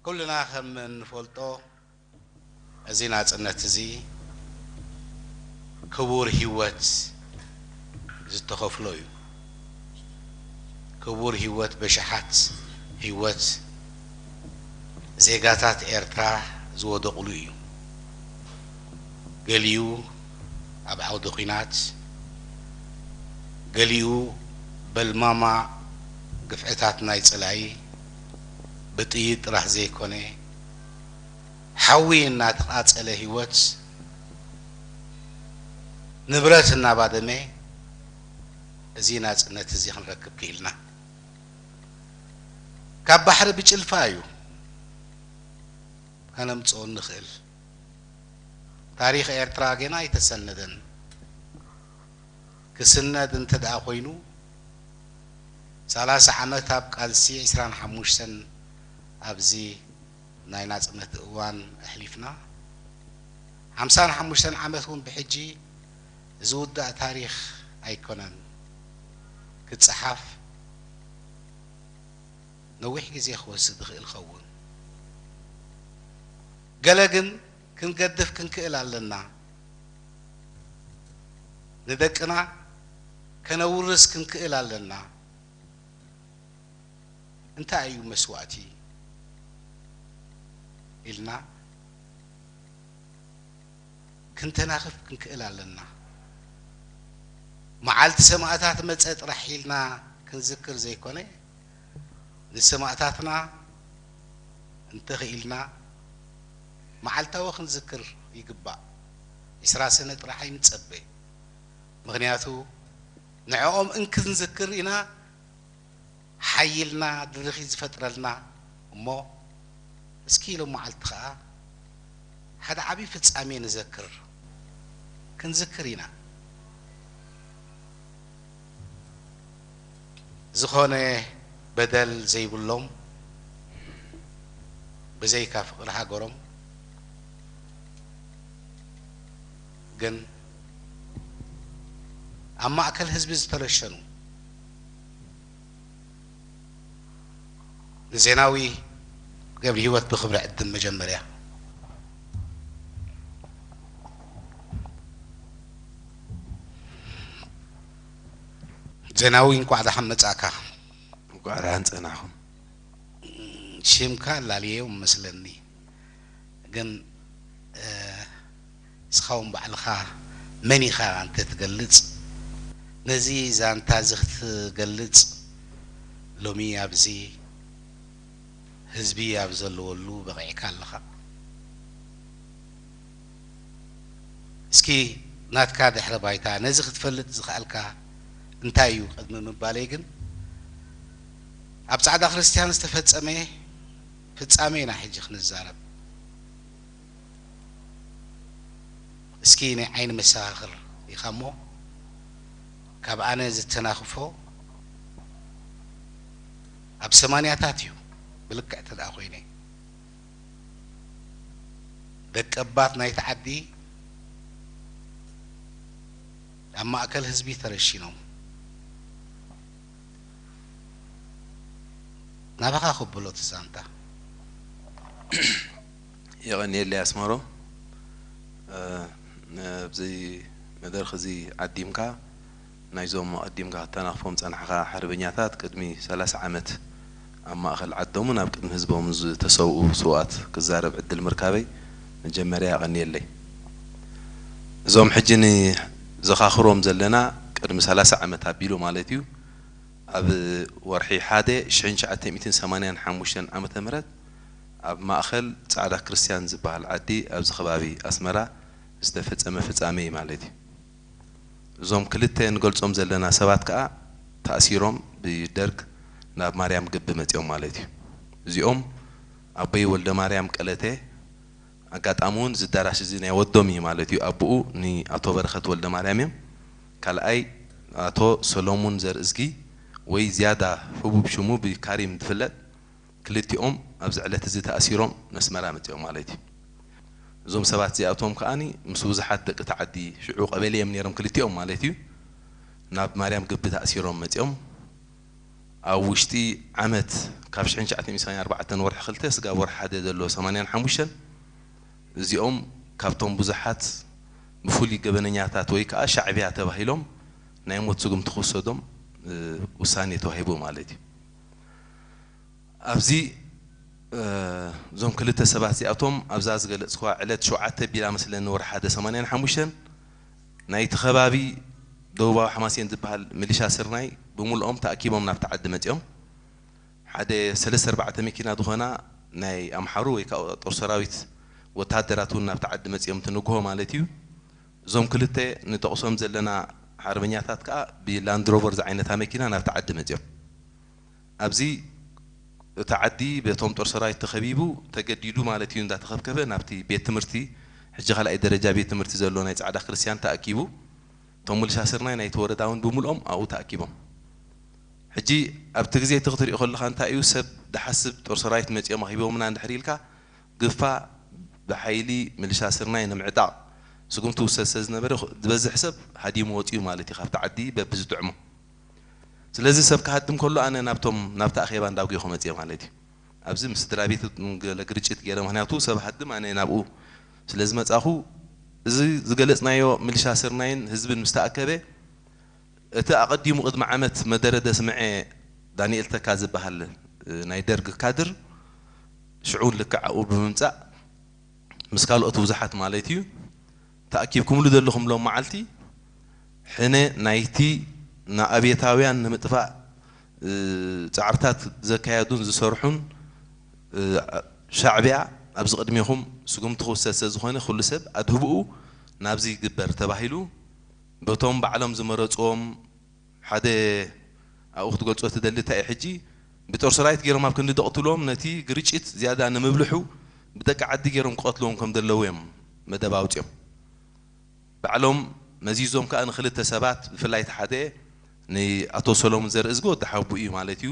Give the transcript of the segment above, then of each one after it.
ኩልና ከም እንፈልጦ እዚ ናጽነት እዚ ክቡር ሂወት ዝተኸፍሎ እዩ። ክቡር ሂወት በሽሓት ሂወት ዜጋታት ኤርትራ ዝወደቕሉ እዩ። ገሊኡ ኣብ ዓውዲ ኩናት፣ ገሊኡ በልማማ ግፍዕታት ናይ ጽላኢ፣ ብጥይት ጥራሕ ዘይኮነ ሓዊ እናተቓፀለ ህይወት ንብረት እናባደመ እዚ ናፅነት እዚ ክንረክብ ክኢልና። ካብ ባሕሪ ብጭልፋ እዩ ከነምፅኦ እንኽእል። ታሪኽ ኤርትራ ገና ኣይተሰነደን። ክስነድ እንተድኣ ኮይኑ ሰላሳ ዓመት ኣብ ቃልሲ ዕስራን ሓሙሽተን ኣብዚ ናይ ናጽነት እዋን ኣሕሊፍና ሓምሳን ሓሙሽተን ዓመት ውን ብሕጂ ዝውዳእ ታሪኽ ኣይኮነን ክጸሓፍ ነዊሕ ግዜ ክወስድ ይኽእል ይኸውን ገለ ግን ክንገድፍ ክንክእል ኣለና፣ ንደቅና ከነውርስ ክንክእል ኣለና። እንታይ እዩ መስዋእቲ ኢልና ክንተናኽፍ ክንክእል ኣለና። መዓልቲ ሰማእታት መጸ ጥራሕ ኢልና ክንዝክር ዘይኮነ ንሰማእታትና እንተኽኢልና መዓልታዊ ክንዝክር ይግባእ ዕስራ ሰነ ጥራሕ ኣይንጸበ ምኽንያቱ ንዕኦም እንክንዝክር ኢና ሓይልና ድርኺት ዝፈጥረልና እሞ እስኪ ሎመዓልቲ ከኣ ሓደ ዓቢ ፍጻሜ ንዘክር ክንዝክር ኢና። ዝኾነ በደል ዘይብሎም ብዘይካ ፍቅሪ ሃገሮም ግን ኣብ ማእከል ህዝቢ ዝተረሸኑ፣ ንዜናዊ ገብሪሂወት ብክብሪ ዕድም መጀመርያ። ዜናዊ እንቋዕ ደሓን መጻእካ። እንኳዕ ደሓን ፀናሕኹም። ሽምካ ላልየዮ መስለኒ ግን ንስኻውን ባዕልኻ መን ኢኻ እንተትገልጽ ነዚ ዛንታዚ ክትገልጽ ሎሚ ኣብዚ ህዝቢ ኣብ ዘለወሉ በቒዕካ ኣለኻ። እስኪ ናትካ ድሕረ ባይታ ነዚ ክትፈልጥ ዝኸኣልካ እንታይ እዩ ቅድሚ ምባለይ ግን ኣብ ጻዕዳ ክርስትያን ዝተፈጸመ ፍጻሜ ኢና ሕጂ ክንዛረብ። እስኪ ናይ ዓይኒ መሰኻኽር ኢኻ እሞ ካብ ኣነ ዝተናኽፎ ኣብ ሰማንያታት እዩ ብልክዕ ተደኣ ኮይነ ደቀባት ናይቲ ዓዲ ኣብ ማእከል ህዝቢ ተረሺኖም ናባኻ ከብሎ እቲ ዛንታ። የቐንየለይ ኣስመሮም ኣብዚ መድረኽ እዚ ዓዲምካ ናይዞም ኣቐዲምካ ክተናኽፎም ዝጸናሕኻ ሓርበኛታት ቅድሚ ሰላሳ ዓመት ኣብ ማእኸል ዓዶምን ኣብ ቅድሚ ህዝቦምን ዝተሰውኡ ስውኣት ክዛረብ ዕድል ምርካበይ መጀመርያ የቐንየለይ። እዞም ሕጂ ንዘኻኽሮም ዘለና ቅድሚ ሰላሳ ዓመት ኣቢሉ ማለት እዩ ኣብ ወርሒ ሓደ ሽሕን ትሽዓተ ሚእትን ሰማንያን ሓሙሽተን ዓመተ ምህረት ኣብ ማእኸል ፃዕዳ ክርስትያን ዝበሃል ዓዲ ኣብዚ ከባቢ ኣስመራ ዝተፈፀመ ፍፃመ እዩ ማለት እዩ። እዞም ክልተ ንገልፆም ዘለና ሰባት ከዓ ተኣሲሮም ብደርግ ናብ ማርያም ግቢ መፂኦም ማለት እዩ። እዚኦም ኣቦይ ወልደማርያም ቀለተ ኣጋጣሚ እውን እዚ ኣዳራሽ እዚ ናይ ወዶም እዩ ማለት እዩ ኣቡኡ ንኣቶ በረኸት ወልደማርያም እዮም ካልኣይ ኣቶ ሰለሙን ዘርእዝጊ ወይ ዝያዳ ህቡብ ሽሙ ብካሪም ዝፍለጥ ክልቲኦም ኣብዚ ዕለት እዚ ተኣሲሮም ነስመራ መጺኦም ማለት እዩ። እዞም ሰባት እዚኣቶም ከኣ ምስ ብዙሓት ደቂ እቲ ዓዲ ሽዑ ቀበሌ እዮም ነይሮም ክልቲኦም ማለት እዩ ናብ ማርያም ግቢ ተኣሲሮም መጺኦም ኣብ ውሽጢ ዓመት ካብ ሽሕን ትሽዓተን ሚእትን ሰማንያን ኣርባዕተን ወርሒ ክልተ ስጋብ ወርሒ ሓደ ዘሎ ሰማንያን ሓሙሽተን እዚኦም ካብቶም ብዙሓት ብፍሉይ ገበነኛታት ወይ ከኣ ሻዕብያ ተባሂሎም ናይ ሞት ስጉምቲ ክውሰዶም ውሳኔ ተዋሂቡ ማለት እዩ። ኣብዚ እዞም ክልተ ሰባት እዚኣቶም ኣብዛ ዝገለጽክዋ ዕለት ሸውዓተ ኣቢላ መስለኒ ወርሒ ሓደ ሰማንያን ሓሙሽተን ናይቲ ከባቢ ደቡባዊ ሓማሴን ዝበሃል ምልሻ ስርናይ ብምልኦም ተኣኪቦም ናብቲ ዓዲ መጺኦም ሓደ ሰለስተ ኣርባዕተ መኪና ዝኾና ናይ ኣምሓሩ ወይ ከዓ ጦር ሰራዊት ወተሃደራት እውን ናብቲ ዓዲ መጺኦም እቲ ንግሆ ማለት እዩ እዞም ክልተ ንጠቕሶም ዘለና ሓርበኛታት ከኣ ብላንድሮቨር ዝዓይነታ መኪና ናብቲ ዓዲ መጺኦም። ኣብዚ እቲ ዓዲ በቶም ጦር ሰራዊት ተኸቢቡ ተገዲዱ ማለት እዩ እንዳተኸብከበ ናብቲ ቤት ትምህርቲ ሕጂ ካልኣይ ደረጃ ቤት ትምህርቲ ዘሎ ናይ ጻዕዳ ክርስትያን ተኣኪቡ እቶም ምልሻ ስርናይ ናይቲ ወረዳ ውን ብምልኦም ኣብኡ ተኣኪቦም ሕጂ ኣብቲ ግዜ እቲ ክትሪኦ ከለኻ እንታይ እዩ ሰብ ድሓስብ ጦር ሰራዊት መጺኦም ኣኺቢቦምና እንድሕር ኢልካ ግፋ ብሓይሊ ምልሻ ስርናይ ንምዕጣቕ ስጉምቲ ይውሰድ ስለዝነበረ ዝበዝሕ ሰብ ሃዲሙ ወጺኡ ማለት እዩ ካብቲ ዓዲ በብዝጥዕሞ። ስለዚ ሰብ ክሃድም ከሎ ኣነ ናብቶም ናብቲ ኣኼባ እንዳጉየኹ መጺኤ ማለት እዩ። ኣብዚ ምስ ስድራቤት ገለ ግርጭት ጌረ ምኽንያቱ ሰብ ሃድም ኣነ ናብኡ ስለዝመጻኹ እዚ ዝገለጽናዮ ምልሻ ስርናይን ህዝብን ምስተኣከበ፣ እቲ ኣቐዲሙ ቅድሚ ዓመት መደረ ደስምዔ ዳንኤል ተካ ዝበሃል ናይ ደርግ ካድር ሽዑውን ልክዕ ኣብኡ ብምምጻእ ምስ ካልኦት ብዙሓት ማለት'ዩ ተኣኪብኩምሉ ዘለኹም ሎም መዓልቲ ሕነ ናይቲ ንኣብየታውያን ንምጥፋእ ጻዕርታት ዘካየዱን ዝሰርሑን ሻዕብያ ኣብዚ ቅድሜኹም ስጉምቲ ክውሰድ ስለዝኾነ ኩሉ ሰብ ኣድህቦኡ ናብዚ ይግበር ተባሂሉ በቶም ባዕሎም ዝመረጽዎም ሓደ ኣብኡ ክትገልጾ ትደሊ እንታይ እዩ ሕጂ ብጦር ሰራዊት ጌሮም ኣብ ክንዲ ደቕትልዎም ነቲ ግርጪት ዝያዳ ንምብልሑ ብደቂ ዓዲ ጌሮም ክቐትልዎም ከም ደለዉ እዮም መደብ ኣውጺኦም ባዕሎም መዚዞም ከኣ ንክልተ ሰባት ብፍላይ እቲ ሓደ ንኣቶ ሰሎሙን ዘርእዝጊ ወዲ ሓውብኡ እዩ ማለት እዩ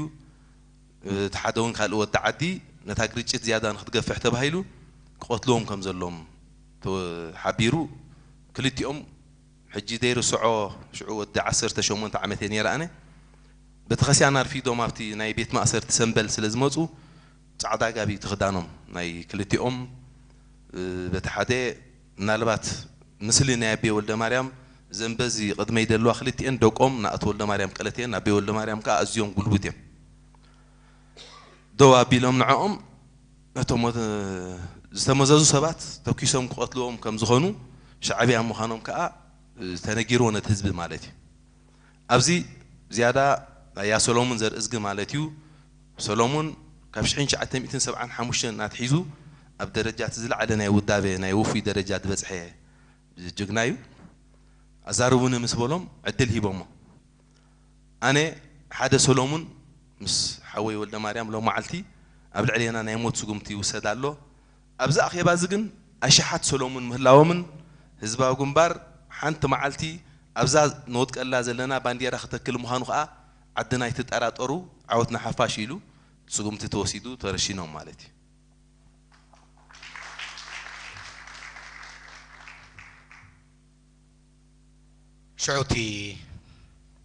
እቲ ሓደ ውን ካልእ ወዲ ዓዲ ነታ ግርጪት ዝያዳ ንክትገፍሕ ተባሂሉ ክቐትልዎም ከም ዘሎም ተሓቢሩ ክልቲኦም ሕጂ ዘይርስዖ ሽዑ ወዲ ዓሰርተ ሸሞንተ ዓመተይ ነይረ ኣነ በተኸስያን ኣርፊዶም ኣብቲ ናይ ቤት ማእሰርቲ ሰምበል ስለ ዝመጹ ጻዕዳ ጋቢ እቲ ክዳኖም ናይ ክልቲኦም በቲ ሓደ ምናልባት ምስሊ ናይ ኣቤ ወልደማርያም እዘን በዚ ቅድመይ ደለዋ ክልቲኤን ደቆም ንኣቶ ወልደማርያም ቀለት እየን ኣቤ ወልደማርያም ከኣ ኣዝዮም ጉልቡት እዮም ደው ኣቢሎም ንዕኦም ነቶም ዝተመዘዙ ሰባት ተኲሶም ክቐትልዎም ከም ዝኾኑ ሻዕብያ ምዃኖም ከኣ ተነጊርዎ ነቲ ህዝቢ ማለት እዩ። ኣብዚ ዝያዳ ናይ ያሰሎሙን ዘርእዝጊ ማለት እዩ ሰሎሙን ካብ ሽሕን ትሽዓተ ሚእትን ሰብዓን ሓሙሽተን ኣትሒዙ ኣብ ደረጃ እቲ ዝለዓለ ናይ ውዳበ ናይ ውፉይ ደረጃ ዝበጽሐ ጅግና እዩ ኣዛርቡኒ ምስ በሎም ዕድል ሂቦሞ ኣነ ሓደ ሰሎሙን ምስ ሓወይ ወልደማርያም ሎም መዓልቲ ኣብ ልዕሌና ናይ ሞት ስጉምቲ ይውሰድ ኣሎ። ኣብዚ ኣኼባ እዚ ግን ኣሽሓት ሰሎሙን ምህላዎምን ህዝባዊ ግንባር ሓንቲ መዓልቲ ኣብዛ ንወድቀላ ዘለና ባንዴራ ክተክል ምዃኑ ከኣ ዓድና ኣይትጠራጠሩ ዓወት ንሓፋሽ ኢሉ ስጉምቲ ተወሲዱ ተረሺኖም ማለት እዩ። ሽዑ እቲ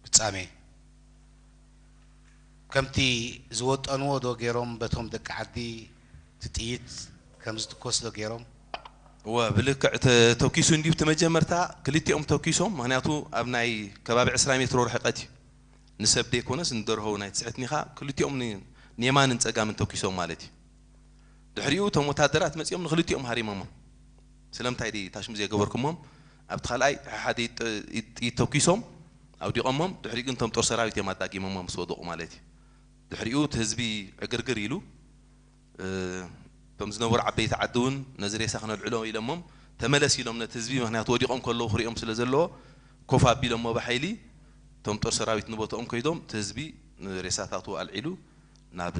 ፍጻሜ ከምቲ ዝወጠንዎ ዶ ጌሮም በቶም ደቂ ዓዲ እቲ ጥይት ከም ዝትኮስ ዶ ጌሮም? እወ ብልክዕ ተተኪሱ እንድዩ እቲ መጀመርታ ክልቲኦም ተኪሶም ምክንያቱ ኣብ ናይ ከባቢ ዕስራ ሜትሮ ርሕቀት እዩ ንሰብ ደይኮነስ ንደርሆ እውን ኣይትስሕትንኢካ ክልቲኦም ንየማንን ጸጋምን ተኪሶም ማለት እዩ ድሕሪኡ እቶም ወታደራት መጺኦም ንክልቲኦም ሃሪመሞም ስለምንታይ ድዪ ታሽሙ ዘይገበርኩሞም ኣብቲ ካልኣይ ሓሓደ ኢድ ጥይት ተኩሶም ኣውዲቆሞም ድሕሪኡ ግን እቶም ጦር ሰራዊት እዮም ኣዳጊሞማ ምስ ወደቁ ማለት እዩ ድሕሪኡ እቲ ህዝቢ ዕግርግር ኢሉ እቶም ዝነበሩ ዓበይቲ ዓዲ እውን ነዚ ሬሳ ክነልዕሎ ኢሎሞም ተመለስ ኢሎም ነቲ ህዝቢ ምክንያቱ ወዲቆም ከለዉ ክሪኦም ስለ ዘለዎ ኮፍ ኣቢሎሞ ብሓይሊ እቶም ጦር ሰራዊት ንቦትኦም ከይዶም እቲ ህዝቢ ሬሳታቱ ኣልዒሉ ናብ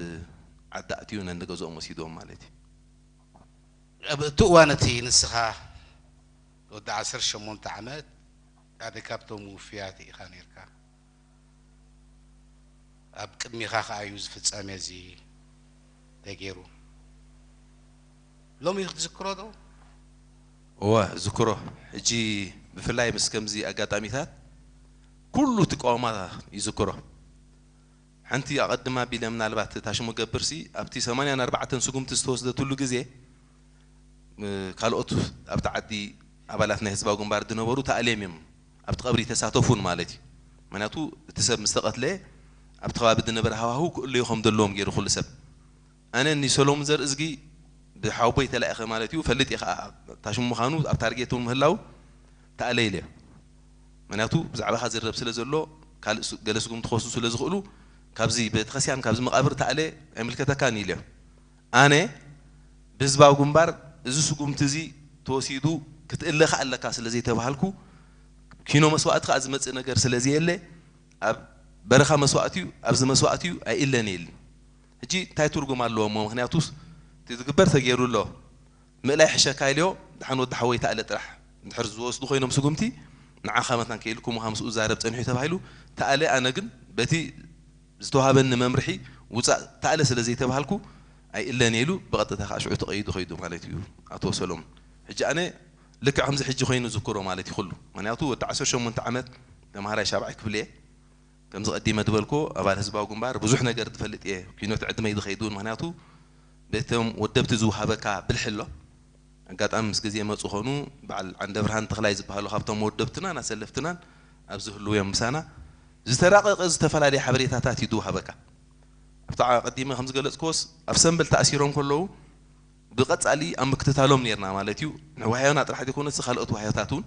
ዓዲ ኣእትዩ ነንገዝኦም ወሲድዎም ማለት እዩ። ኣብ እቲ እዋን እቲ ንስኻ ወዲ ዓሰርተ ሸሞንተ ዓመት ሓደ ካብቶም ውፉያት ኢኻ ነይርካ። ኣብ ቅድሜኻ ከኣ እዩ እዚ ፍጻሜ እዚ ተገይሩ። ሎሚ ክትዝክሮ ዶ? እወ እዝክሮ። ሕጂ ብፍላይ ምስ ከምዚ ኣጋጣሚታት ኩሉ እቲ ቀዋማት ይዝክሮ። ሓንቲ ኣቐድም ኣቢለ ምናልባት እታ ሽሙ ገብርሲ ኣብቲ ሰማንያን ኣርባዕተን ስጉምቲ ዝተወስደትሉ ግዜ ካልኦት ኣብቲ ዓዲ ኣባላት ናይ ህዝባዊ ግንባር ዝነበሩ ተኣልዬም እዮም ኣብቲ ቀብሪ ይተሳተፉ ውን ማለት እዩ ምክንያቱ እቲ ሰብ ምስተቐትለ ኣብቲ ከባቢ ዝነበረ ሃዋህው ክእለዩ ከምዘለዎም ገይሩ ኩሉ ሰብ ኣነ ን ሰሎሙን ዘርእዝጊ ብ ሓውቦይ ተላኢኸ ማለት ኢዩ ፈልጥ ኢየ ከኣ ታሽሙ ምኻኑ ኣብ ታርጌት ውን ምህላው ተኣለይለ ምክንያቱ ብዛዕባኻ ዝርረብ ስለ ዘሎ ካልእ ገለ ስጉምቲ ክወስዱ ስለ ዝኽእሉ ካብዚ ቤተክርስትያን ካብዚ መቃብር ተኣለ ኣይምልከተካን ኢለ ኣነ ብ ህዝባዊ ግንባር እዚ ስጉምቲ እዚ ተወሲዱ ክትእለ ከኣ ኣለካ ስለ ዘይተባሃልኩ ኪኖ መስዋእቲ ከኣ ዝመጽእ ነገር ስለ ዘየለ ኣብ በረኻ መስዋእቲ ዩ ኣብዚ መስዋእቲ ዩ ኣይእለን ኢል ሕጂ እንታይ ትርጉም ኣለዎ እሞ ምክንያቱስ እቲ ዝግበር ተጌሩ ኣሎ ምእላይ ይሕሸካ ኢልዮ ድሓን ወዲ ሓወይ ተኣለ ጥራሕ እንድሕር ዝወስዱ ኮይኖም ስጉምቲ ንዓካ መታን ክኢልኩም ውሃ ምስኡ ዝዛረብ ጸኒሑ ተባሂሉ ተኣለ ኣነ ግን በቲ ዝተዋሃበኒ መምርሒ ውጻእ ተኣለ ስለ ዘይተባሃልኩ ኣይእለን እየ ኢሉ ብቀጥታ ከኣ ሽዑ ተቀይዱ ከይዱ ማለት እዩ ኣቶ ሰሎሙን ሕጂ ኣነ ልክዕ ከምዚ ሕጂ ኮይኑ ዝክሮ ማለት እዩ ኩሉ ምክንያቱ ወዲ ዓሰርተ ሸሞንተ ዓመት ተማሃራይ ሻብዓይ ክፍሊ እየ ከምዚ ቀዲመ ድበልክዎ ኣባል ህዝባዊ ግንባር ብዙሕ ነገር ድፈልጥ እየ ኩይኖት ዕድመይ ድከይድ ውን ምክንያቱ በቶም ወደብቲ ዝውሃበካ ብልሒ ኣሎ ኣጋጣሚ ምስ ግዜ መጹ ኮኑ ባዓል ዓንደብርሃን ተክላይ ዝባሃሉ ካብቶም ወደብትናን ኣሰለፍትናን ኣብዚ ህልው እዮም ምሳና ዝተራቀቀ ዝተፈላለየ ሓበሬታታት እዩ ድውሃበካ ኣብቲ ኣቀዲመ ከም ዝገለጽክዎስ ኣብ ሰምበል ተኣሲሮም ከለዉ ብቀጻሊ ኣብ ምክትታሎም ኔርና ማለት እዩ ንዋህዮና ጥራሕ ዘይኮነሲ ካልኦት ዋህዮታት ውን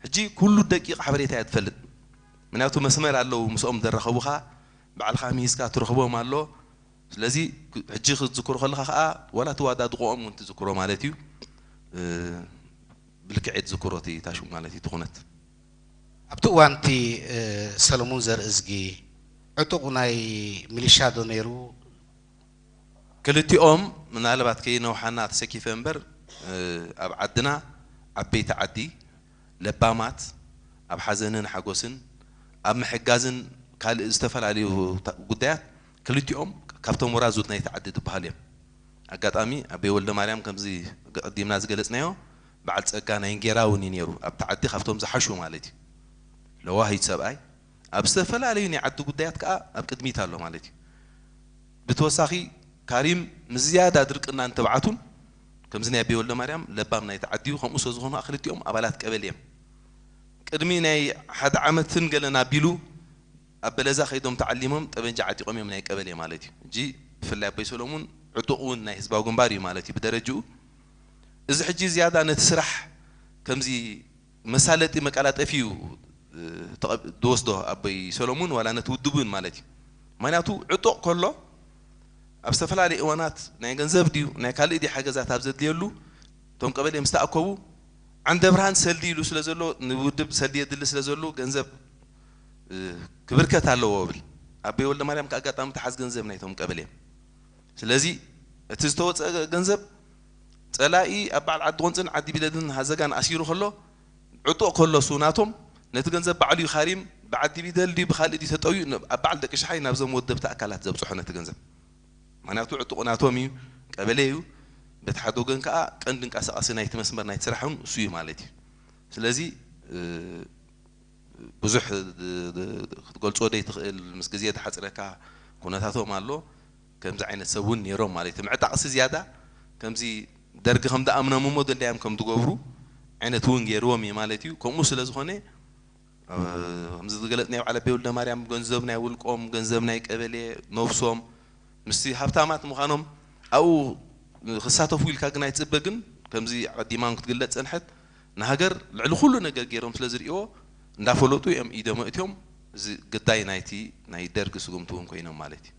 ሕጂ ኩሉ ደቂቅ ሓበሬታ እያ ድፈልጥ ምክንያቱ መስመር ኣለዉ ምስኦም ዘራኽቡኻ ባዕልኻ ምሂዝካ ትረኽቦም ኣሎ ስለዚ ሕጂ ክትዝክሮ ከለኻ ከኣ ዋላ እቲ ዋዳድቆኦም ውን ትዝክሮ ማለት እዩ ብልክዕ እየ ትዝክሮ እቲ ታሹ ማለት እዩ እቲ ኩነት። ኣብቲ እዋን እቲ ሰለሙን ዘርእዝጊ ዕጡቕ ናይ ሚሊሻ ዶ ነይሩ? ክልቲኦም ምናልባት ከይነውሓና ተሰኪፈ እምበር ኣብ ዓድና ዓበይቲ ዓዲ ለባማት ኣብ ሓዘንን ሓጎስን ኣብ ምሕጋዝን ካልእ ዝተፈላለዩ ጉዳያት ክልቲኦም ካብቶም ወራዙት ናይቲ ዓዲ ዝበሃሉ እዮም። ኣጋጣሚ ኣቤ ወልደማርያም ከምዚ ኣቐዲምና ዝገለጽናዮ በዓል ጸጋ ናይ እንጌራ እውን እዩ ነይሩ፣ ኣብቲ ዓዲ ካብቶም ዝሓሹ ማለት እዩ። ለዋህይት ሰብኣይ ኣብ ዝተፈላለዩ ናይ ዓዲ ጉዳያት ከኣ ኣብ ቅድሚት ኣሎ ማለት እዩ። ብተወሳኺ ካሪም ምስ ዝያዳ ድርቅናን ትብዓቱን ከምዚ ናይ ኣቤ ወልደማርያም ለባም ናይቲ ዓዲዩ ከምኡ ስለዝኾኑ ከኣ ክልቲኦም ኣባላት ቀበሌ እዮም ቅድሚ ናይ ሓደ ዓመትን ገለን ኣቢሉ ኣብ በለዛ ከይዶም ተዓሊሞም ጠበንጃ ዓጢቆም እዮም ናይ ቀበሌ ማለት እዩ ሕጂ ብፍላይ ኣቦይ ሰሎሙን ዕጡቅ ውን ናይ ህዝባዊ ግንባር እዩ ማለት እዩ ብደረጅኡ እዚ ሕጂ ዝያዳ ነቲ ስራሕ ከምዚ መሳለጢ መቃላጠፊ እዩ ድወስዶ ኣቦይ ሰሎሙን ዋላ ነቲ ውድብ እውን ማለት እዩ ምክንያቱ ዕጡቅ ከሎ ኣብ ዝተፈላለየ እዋናት ናይ ገንዘብ ድዩ ናይ ካልእ ድዩ ሓገዛት ኣብ ዘድልየሉ እቶም ቀበሌ ምስ ተኣከቡ ዓንደብርሃን ሰልዲ ኢሉ ስለ ዘሎ ንውድብ ሰልዲ የድሊ ስለ ዘሉ ገንዘብ ክብርከት ኣለዎ እብል ኣቦይ ወልደማርያም ከኣ ኣጋጣሚ ተሓዝ ገንዘብ ናይቶም ቀበሌ ስለዚ እቲ ዝተወጸ ገንዘብ ጸላኢ ኣብ በዓል ዓዲ ቁንጽን ዓዲ ቢለድን ሃዘጋን ኣሲሩ ከሎ ዕጡቕ ከሎሱ ናቶም ነቲ ገንዘብ ባዕሉ እዩ ካሪም ብዓዲ ቢደል ድዩ ብካልእ ድዩ ተጠውዩ ኣብ በዓል ደቂ ሽሓይ ናብዞም ወደብቲ ኣካላት ዘብጽሖ ነቲ ገንዘብ ምክንያቱ ዕጡቕ ናቶም እዩ ቀበሌ እዩ በቲ ሓደ ወገን ከኣ ቀንዲ እንቃሳቃሲ ናይቲ መስመር ናይቲ ስራሕ ውን እሱ እዩ ማለት እዩ ስለዚ ብዙሕ ክትገልጾ ደይ ትክእል ምስ ግዜ ድሓጽረካ ኩነታቶም ኣሎ ከምዚ ዓይነት ሰብ ውን ኔሮም ማለት እዩ ምዕጣቕሲ ዝያዳ ከምዚ ደርጊ ከም ድኣምኖም እሞ ደልዳዮም ከም ድገብሩ ዓይነት ውን ጌርዎም እዩ ማለት እዩ ከምኡ ስለ ዝኾነ ከምዚ ዝገለጽናዮ በዓል ኣቤ ወልደማርያም ገንዘብ ናይ ውልቆም ገንዘብ ናይ ቀበሌ ነብሶም ምስቲ ሃብታማት ምዃኖም ኣብኡ ክሳተፉ ኢልካ ግን ኣይትጽበ ግን ከምዚ ኣቐዲማ ውን ክትግለጽ ዝጸንሐት ንሃገር ልዕሊ ኩሉ ነገር ጌሮም ስለ ዝርእይዎ እንዳፈለጡ እዮም ኢዶም ኣእትዮም እዚ ግዳይ ናይቲ ናይ ደርጊ ስጉምቲ ውን ኮይኖም ማለት እዩ።